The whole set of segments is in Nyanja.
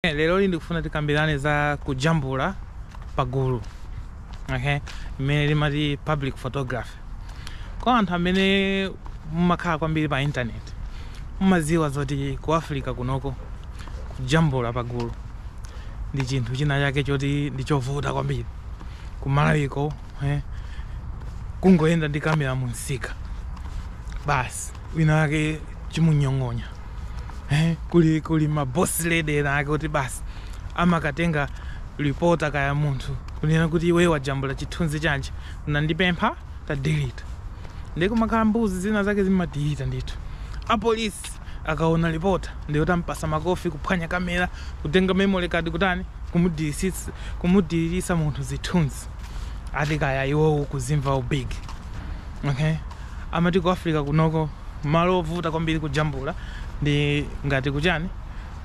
Leroli ndikufuna tikambirane za kujambula pagulu okay? limene timati public photography. Kwa anthu amene mumakhala kwambiri pa intaneti mumadziwa zoti ku Africa kunoko kujambula pagulu ndi chinthu china chake choti ndi chovuta kwambiri ku Malawi-ko eh? kungoyenda ndi kamera mu msika basi wina wake chimunyong'onya eh, kuli kuli ma boss lady ena ake kuti basi amakatenga reporter kaya munthu kunena kuti iwe wajambula chithunzi chanji unandipempha tadelete nde kumakhala mbuzi zina zake zimadelete ndithu apolisi akaona reporter nde kuti ampasa makofi kuphwanya kamera kutenga memory card kutani kumudilisitsa- kumudiririsa munthu zithunzi ati kaya iwowo kuzimva ubig okay Amati ku Africa kunoko malo ovuta kwambiri kujambula ndi ngati ku chani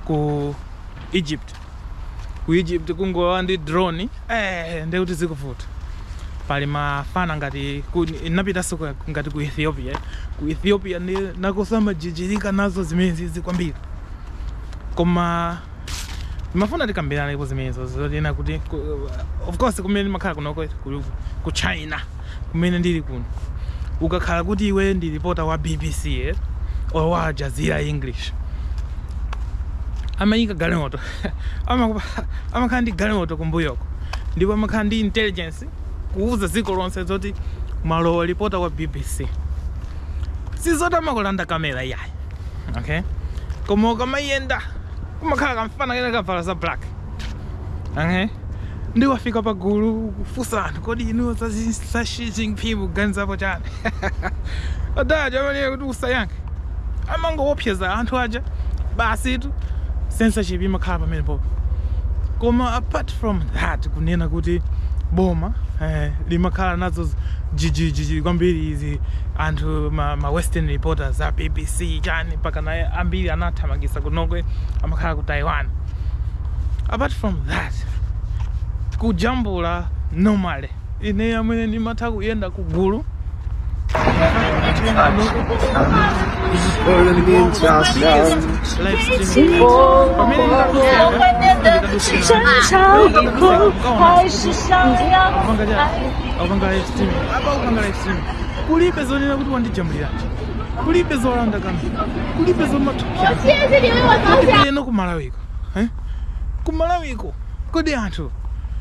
ku Egypt. Ku Egypt kungolowa ndi drone eeh ndiye kuti zikuvuta. Pali mafana ngati ku ndinapitanso ngati ku Ethiopia. Ku Ethiopia ndi nakonso amajijirika nazo zimenezizi kwambiri. Koma. Ndimafuna tikambiranepo zimenezo zonena kuti ku- of course kumene ndimakhala kunoko ku, ku China kumene ndili kuno ukakhala kuti iwe ndi reporter wa BBC eh, or wa Al Jazeera English amayika galimoto Amakupa- amakhala ndi galimoto kumbuyoko ndipo amakhala ndi intelligence kuwuza dziko lonse zoti mwalowa reporter wa BBC sizoti amakulanda kamera iyayi okay koma ukamayenda kumakhala kamfana kena kavala za black okay nde wafika pa gulu kufunsa anthu kodi inuyo za zi- za Xi Jinping kuganizapo chani adaja amanena kuti usayankhe amangowopseza anthu aja basitu censorship imakhala pamene popo koma apart from that kunena kuti boma eh, limakhala nazo jijijiji kwambiri izi anthu ma, ma western reporters a bbc chani mpaka naye ambiri anathamangisa kunoko amakhala ku taiwan apart from that kujambula normally ineyo amwene ndimatha kuyenda ku gulu Live streaming. kulibe zonena kuti wandijambuliranji kulibe zolanda kamera kulibe zomathupsyana kotipeyeno kumalawiko eh? kumalawiko kodi anthu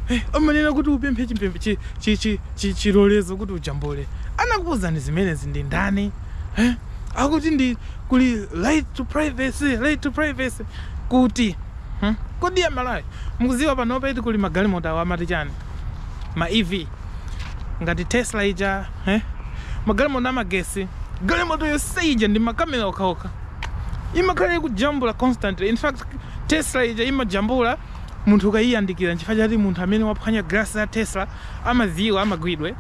eh, amanena kuti upemphe chimpembe- chi- chi- chi- chi- chilolezo kuti ujambule anakuuzani zimenezi ndi ndani eh? akuti ndi kuli right to privacy right to privacy kuti hmm? kodi amalawi mukuziwa panopa eti kuli magalimoto awa amati chani ma ev ngati tesla ija eh? magalimoto amagesi galimoto yonse ija ndi makamera okhaokha imakhala ikujambula constantly in fact tesla ija imajambula munthu ukayiyandikira nchifukwa chati munthu amene waphwanya glass ya tesla amadziwa amagwidwe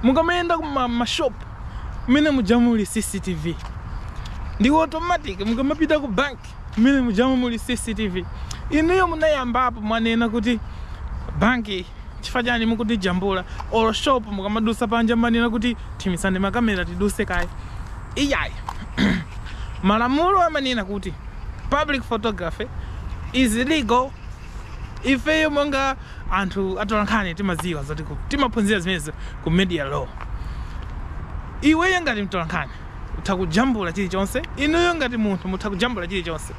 mukamayenda kumashop mmene muja muli cctv ndi automatic mukamapita ku bank mmene mujamo muli cctv inuyo munayambapo mwanena kuti bank chifukwa chani mukutijambula or shop mukamadusa panja mmanena kuti thimisani makamera tiduse kaye iyayi malamulo amanena kuti public photography is legal ifeyo monga anthu atolankhani timaziwa zoti ku- timaphunzira zimenezo ku media law iweyo ngati mtolankhani Utha kujambula chilichonse. Inuyo ngati munthu mutha kujambula chilichonse.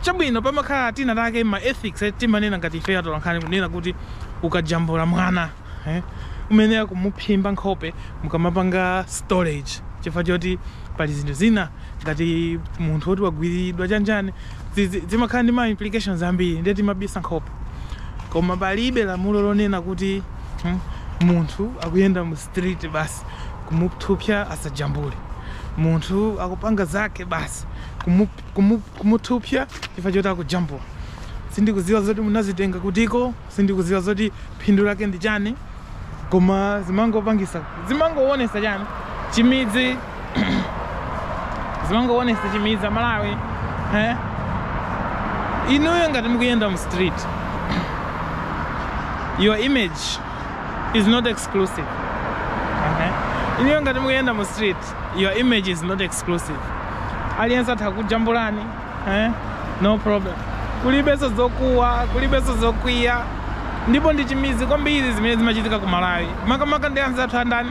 Chabwino pamakhala tina take ma ethics eh, timanena ngati ifeyo atolankhani kunena kuti ukajambula mwana eh, umayenera kumuphimba nkhope mukamapanga story chifukwa choti pali zinthu zina ngati munthu woti wagwiriridwa chani chani zi- zi- zimakhala ndi ma implications ambiri ndiye timabisa nkhope koma palibe lamulo lonena kuti hmm, munthu akuyenda mu street basi kumuthupsya asajambule munthu akupanga zake basi kumu- kumu- kumuthupsya chifukwa choti akujambula sindikuziwa zoti munazitenga kutiko sindikuziwa zoti phindu lake ndi chani koma zimangopangisa zimangowonesa chani chimidzi zimangowonesa chimidzi amalawi eh? inuyo ngati mukuyenda mu street your image is not exclusive okay? inuyo ngati mukuyenda mu street your image is not exclusive aliyense atha kukujambulani eh? no problem kulibenso zokuwa kulibenso zokwiya ndipo ndi chimidzi kwambiri zimene zimachitika ku malawi makamaka ndi anzathu andani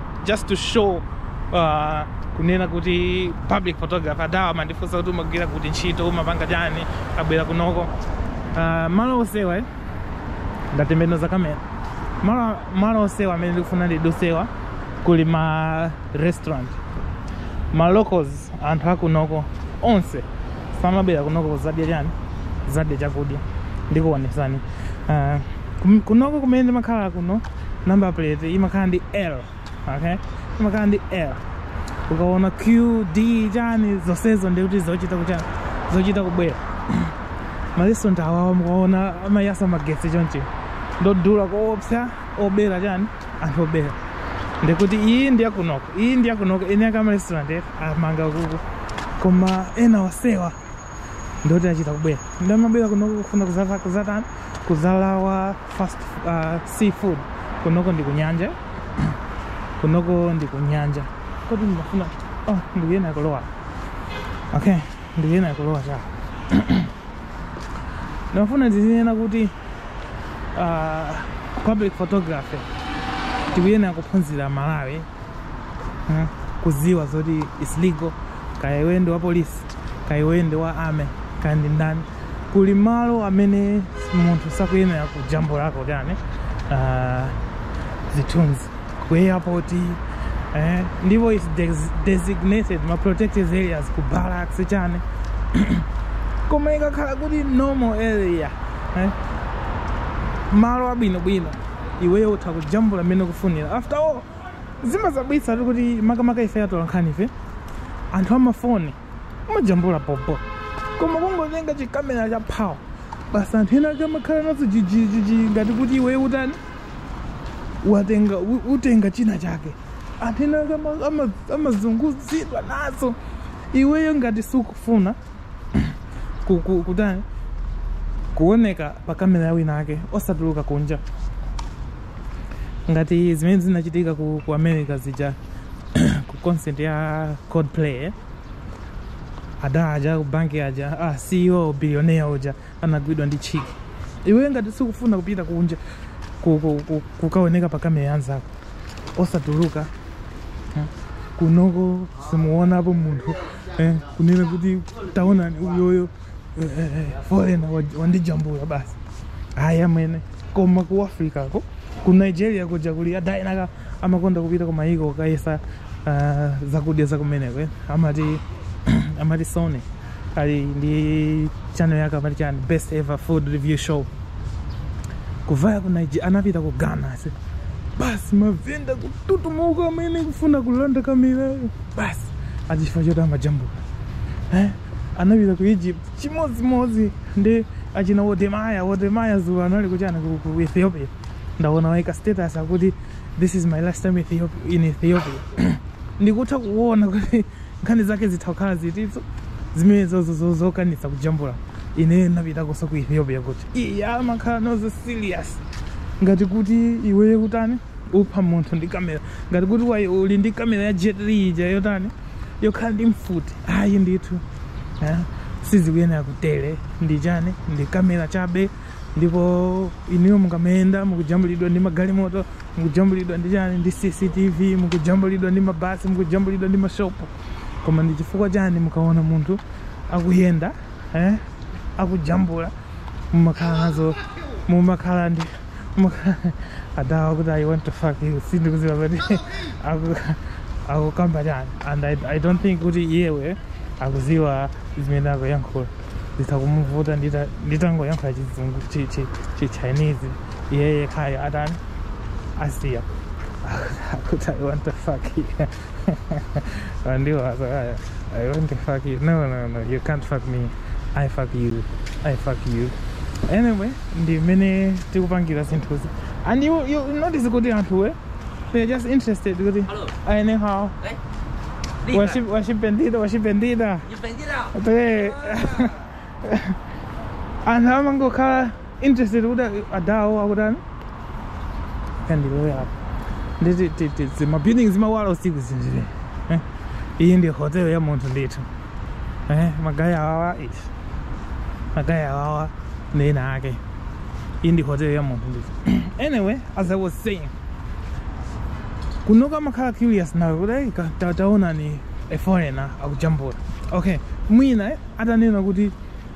just to show uh, kunena kuti public photography adawa amandifunsa kuti umagwira kuti ntchito umapanga chani abwera kunoko uh, malo onsewa eh? ndatembenuza kamera malo, malo onsewa amene ndikufuna ndidusewa kuli ma restaurant ma locals anthu akunoko onse amabwera kunoko kuzadya chani zadya chakudya ndikuonesani uh, kum- kunoko kumene ndimakhala kuno number plate imakhala ndi l okay imakhala ndi l ukaona qd chani zonsezo ndikuti zochita kuchani zochita kubwera marestaurant awawa mukaona amayasa magetsi chonchi ndodula koopsa obera chani anthu obera ndikuti iyi ndi yakunoko iyi ndi yakunoko ena ake marestaurant amanga kuku koma ena osewa ndoti achita kubwera nde amabwera kunoko kufuna kuzava- kuzatani kuzalawa fast uh, seafood kunoko ndi kunyanja kunoko ndi kunyanja kodi ndimafuna oh, ndikuyena kulowa okay ndikuyena kulowa cha ndimafuna ndizinene kuti uh, public photography tikuyenera kuphunzira malawi eh, kuziwa zoti is legal kaya iwe ndi wa polisi kaya iwe ndi wa army kaya ndi ndani kuli malo amene munthu sakuyenera kujambulako kani uh, zithunzi ku airport eh, ndipo is des- designated ma protected areas ku barracks chani koma ikakhala kuti normal area eh, malo abwinobwino iweyo utha kujambula mmene ukufunira after all zimadabwitsatu kuti makamaka ife atolankhanife anthu amafoni amajambula bhobho koma kungotenga chikamera cha phawu basi anthu ena ake amakhala nazo jijijiji ngati kuti iwe utani watenga u- utenga china chake anthu ena ake ama- ama- amazunguzidwa nazo iweyo ngati sukufuna ku- ku- kutani kuoneka pa kamera ya wina ake osatuluka kunja ngati zimene zinachitika ku, ku america zija ku concert ya coldplay eh? adha aja ku banki aja ah, ceo billionaire uja anagwidwa ndi chiki iwe ngati sukufuna kupita kunja ku- ku- ku- kukaoneka pa kamera yanzako osatuluka eh? kunoko simuonapo munthu eh? kunena kuti taonani uyoyo foreigner wandijambula basi ayi amwene koma ku africa ko ku nigeria kuja kuli adha ena ake amakonda kupita kumayiko kukayesa ah, zakudya zakumeneko eh. amati amati sony ali ndi channel yake amati chani best ever food review show kuvaya ku nigeria anapita ku ghana se basi mavenda kututumuka amwene kufuna kulanda kamerayo basi achifukwa choti amajambula eh? anapita ku Egypt chimodzimodzi ndi achina Wodemaya. Wodemaya dzulo anali kuti anali ku Ethiopia, ndaona waika status akuti this is my last time Ethiopia, in Ethiopia ndikutha kuona kuti nkhani zake zitha kukhala zitizo zimene zokanisa kujambula ineyo napitakoso ku Ethiopia kuti iye amakhala nazo serious ngati kuti iweyo kutani upha munthu ndi kamera ngati kuti uli ndi kamera ya Jet Li ija yotani yokhala ndi mfuti ayi ndithu eh, sizikuyenera kutere ndi chani ndi kamera chabe ndipo inuyo mukamayenda mukujambulidwa ndi magalimoto mukujambulidwa ndi chani ndi cctv mukujambulidwa ndi mabasi mukujambulidwa ndi mashopu koma ndi chifukwa chani mukaona munthu akuyenda eh, akujambula mumakhala nazo mumakhala ndi adawa kuti i want to fuck you sindikuziwa kuti akukamba chani and I, i don't think kuti iyeyo akuziwa zimene akuyankhula zitha kumuvuta nditangoyankhula chizungu chichinese iyeye kaya atani asiya akuti i want to fuck you and you was like, I, I want to fuck you. No, no, no, you can't fuck me. I fuck you. I fuck you. Anyway, ndi mmene tikupangira zinthuzi. And you, you notice kuti anthu eh? They're just interested kuti Hello. aene how Đấy. Đi mà. waship waship bendida waship bendida. Chụp hình chứ đâu. Tee. Anthu amangokhala interested kuti adawo akutani kandilowe apa nditi ti- ti- ti- ma building zimawala usiku zindire eh? iyi ndi hotel ya munthu ndithu eh? magaya awawa iti magaya awawa ndi ena ake iyi ndi hotel ya munthu ndithu anyway as i was saying kuno kamakhala curious nawe kuti "Hey, ka- ta- taonani a foreigner akujambula okay mwina eh, atanena kuti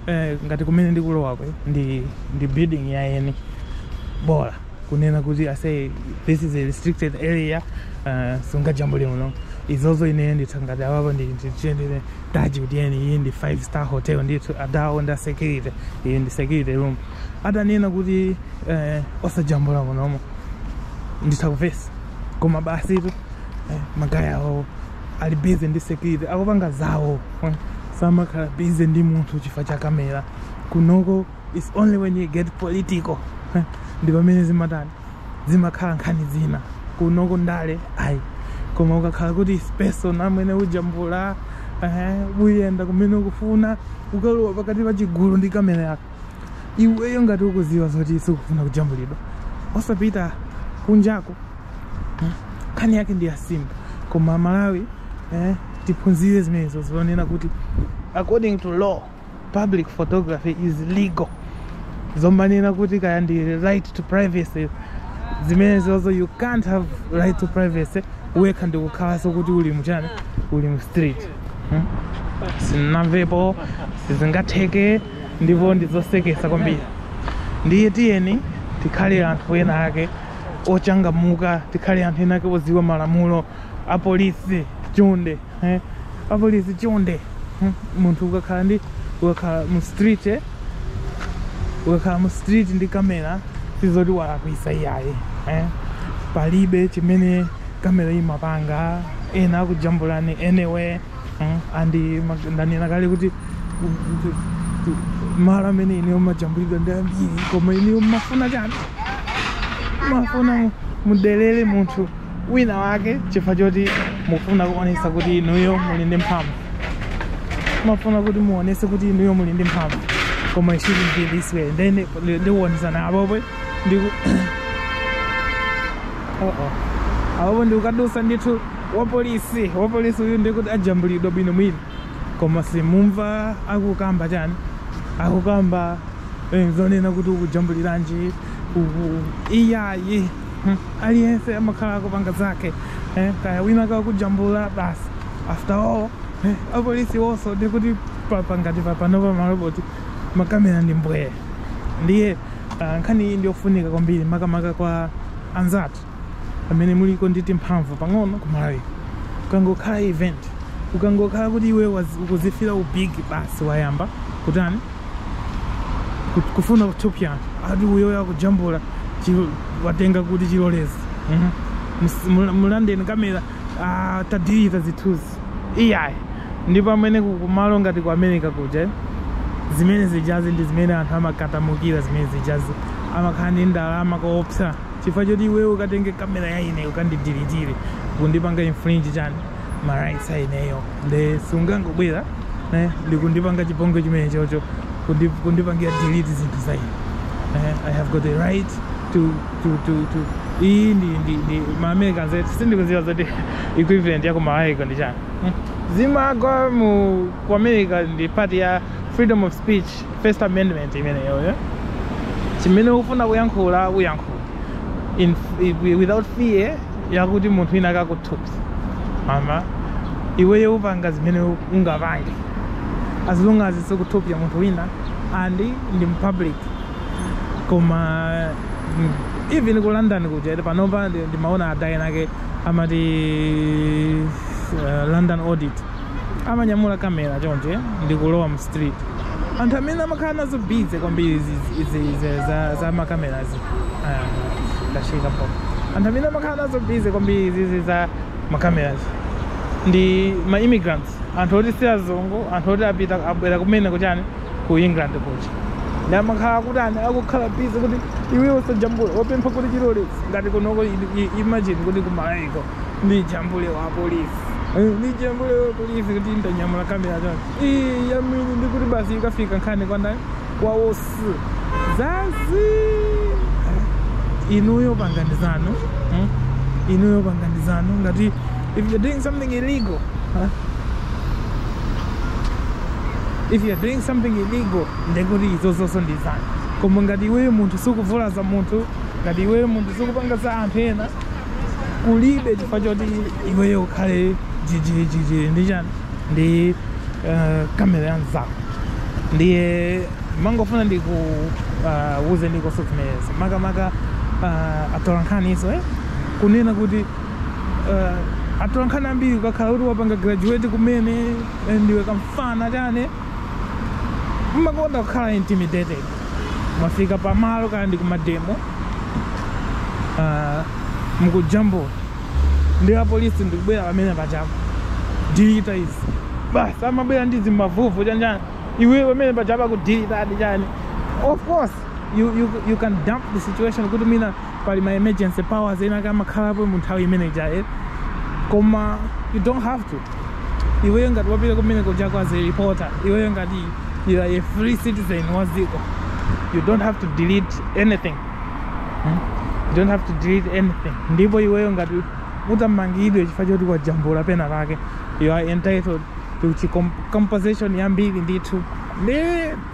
eh, ngati kumene ndikulowako ndi ndi building ya eni bola kunena kuti ase this is a restricted area uh, sungajambule muno izozo ine nditha ngati apapo ndichedwerenji kuti eni iyi ndi five star hotel ndithu adawo nda security iyi ndi security room atanena kuti eh, osajambula munomo nditha kumvesa koma basitu eh, magaya awo ali busy ndi security akupanga zawo eh. samakhala busy ndi munthu chifukwa cha kamera kunoko its only when you get political eh. ndi pamene zimatani zimakhala nkhani zina kunoko ndale ayi koma ukakhala kuti its personal amwene ujambula eh, uyenda kumene ukufuna ukalowa pakati pa chigulu ndi kamera yako iweyo ngati ukuziwa zoti sukufuna kujambulidwa osapita kunjako hmm? nkhani yake ndi yasimpo koma malawi eh, tiphunzire zimenezo zonena kuti according to law public photography is legal zomanena kuti kaya ndi right to privacy zimenezozo you can't have right to privacy wekha ndikukhalanso kuti uli muchani uli mu street hmm? sinamvepo sizingatheke ndipo ndizosekesa kwambiri ndiye tiyeni tikhale anthu ena ake ochangamuka tikhale anthu enaake oziwa malamulo apolisi chonde eh? apolisi chonde hmm? munthu ukakhala ndi ukakhala mu street eh? ukakhala mu street ndi kamera sizoti walakwisa iyayi eh? palibe chimene kamera imapanga ena akujambulani anyway and ndanena kale kuti malo amene ineyo majambulidwa ndi ambiri koma inuyo mmafuna chani mafuna mudelere munthu wina wake chifukwa choti mufuna kuonesa kuti inuyo muli ndi mphamvu mafuna kuti muonese kuti inuyo muli ndi mphamvu koma it shouldn't be this way then ndikuonesani apopo ndiku oh oh apopo ndikukadusa ndithu wapolisi wapolisi uyu ndikuti ajambulidwa bwinobwino koma simumva akukamba chani akukamba eh, zonena kuti ukujambuliranji uku iyayi Hmm, aliyense amakhala akupanga zake eh, kaya wina kakujambula basi after all eh, apolisi iwonso ndikuti papa ngati papanopa maloboti makamera ndi mbwee ndiye ah, nkhani iyi ndiyofunika kwambiri makamaka kwa anzathu amene aliko ndi timphamvu pang'ono kumalawi ukangokhala event ukangokhala kuti iwe wazi- ukuzifira ubigi basi wayamba kutani Ku- kufuna kuthupsa ati uyo wakujambula chilo- watenga kuti chilolezo Mhm. Mus- mula- mulandeni kamera ah, tadirita zithunzi iyayi ndipo amwene kumalo ngati ku america kuja eh, zimene zijazi ndi zimene anthu amakatamukira zimene zijazi amakhala ndi ndalama koopsa chifukwa choti iweyo ukatenge kamera ya ine ukandidiritire kundipanga infringe chani ma rights a ineyo nde sungangobwera eh, ndikundipanga chipongwe chimene chocho kundi- kundipangira delete zinthu za ine eh, i have got the right to tu tu tu iyi ndi ndi ndi ma americans eti sindikudziwa zoti equivalent ya ku malawiko ndi chani Hmm. zimagwa mu ku america ndi part ya freedom of speech first amendment imeneyo yeah? chimene ufuna kuyankhula uyankhula in, i- without fear yakuti munthu wina akakuthupsa kapena iweyo upanga zimene u- ungapange as long as sukuthupsa munthu wina and ndi mpublic koma mm, even ku london kuja eti panopa ndi- ndimaona a guy enaake amati uh, london audit amanyamula kamera chonchi ndikulowa mu street anthu amene amakhala nazo bize kwambiri izi- izi- izi za- za makamerazi ndachekapo anthu amene amakhala nazo bize kwambiri izizi za makamerazi ndi ma immigrants anthu oti si azungu anthu oti apita abwera kumene kuchani ku england kuja namakhala kuti ani akukhala bizi kuti iwe usajambula wapempha kuti chilolezo ngati kunoko imagine kuti kumaiko ndijambule wapolisi Eh, ndijambule wapolisi kuti ndanyamula kamera chonchi yamini ndiye kuti basi ikafika nkhani kwandani kwawosi zazi inuyo pangani zanu hmm? inuyo pangani zanu ngati if you're doing something illegal huh? if you are doing something illegal ndekuti izozo nso ndi zanu koma ngati iweyo munthu sukuvulaza munthu ngati iweyo munthu sukupanga za anthu ena kulibe chifukwa choti iweyo ukhale jijijiji ndi chani ndi uh, kamera ya mzako ndiye ndimangofuna ndikuwuze uh, ndikonso zimenezo makamaka uh, atolankhaninso eh? kunena kuti uh, atolankhani ambiri ukakhala kuti wapanga graduate kumene Eh, ndiwe kamfana chani mumakonda kukhala intimidated mwafika pamalo kaya ndi kumademo Ah, mukujambula ndi apolisi ndikubwera pamene pajapo dilita izi basi amabwera ndi zimavuvu chani chani iwe pamene pajapo kudilitadi chani of course you, you, you can dump the situation kuti mwina pali ma emergency powers ena ake amakhalapo mu nthawi imene ijaye koma you don't have to iweyo ngati wapita kumene kujako as a reporter iweyo ngati you are a free citizen wa dziko you don't have to delete anything Hmm? you don't have to delete anything ndipo iweyo ngati utamangidwe chifukwa choti wajambula pena pake you are entitled to chi- com- compensation yambiri ndithu ndi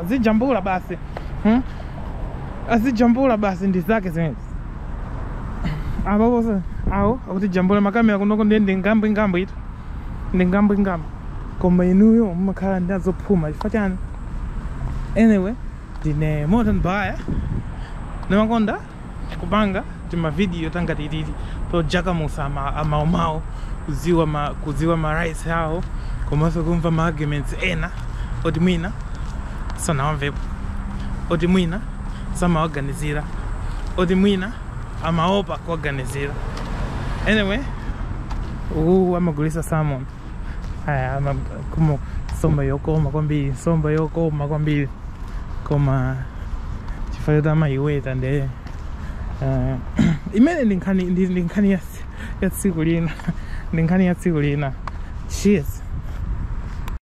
azijambula basi hmm? azijambula basi ndi zake zimenezi apo awo akuti jambula makamera kunoko ndiye ndi ngambwe ngambwe ito ndi ngambwe ngambwe koma inuyo mumakhala ndi azophuma chifukwa chani anyway ndine moto mbaya ndimakonda kupanga timavidiyo tangati titi todzukamutsa ama- amawumawu kudziwa ma, kudziwa ma rights awo komanso kumva ma arguments ena oti mwina sanawamvepo oti mwina samawaganizira oti mwina amaopa kuwaganizira anyway uwu amagulitsa salmon aya makumu nsomba yokoma kwambiri nsomba yokoma kwambiri koma chifukwa choti amayiweta nde eh, imeneyo ndi nkhani ndi ndi nkhani ya ya tsiku lina ndi nkhani ya tsiku lina cheers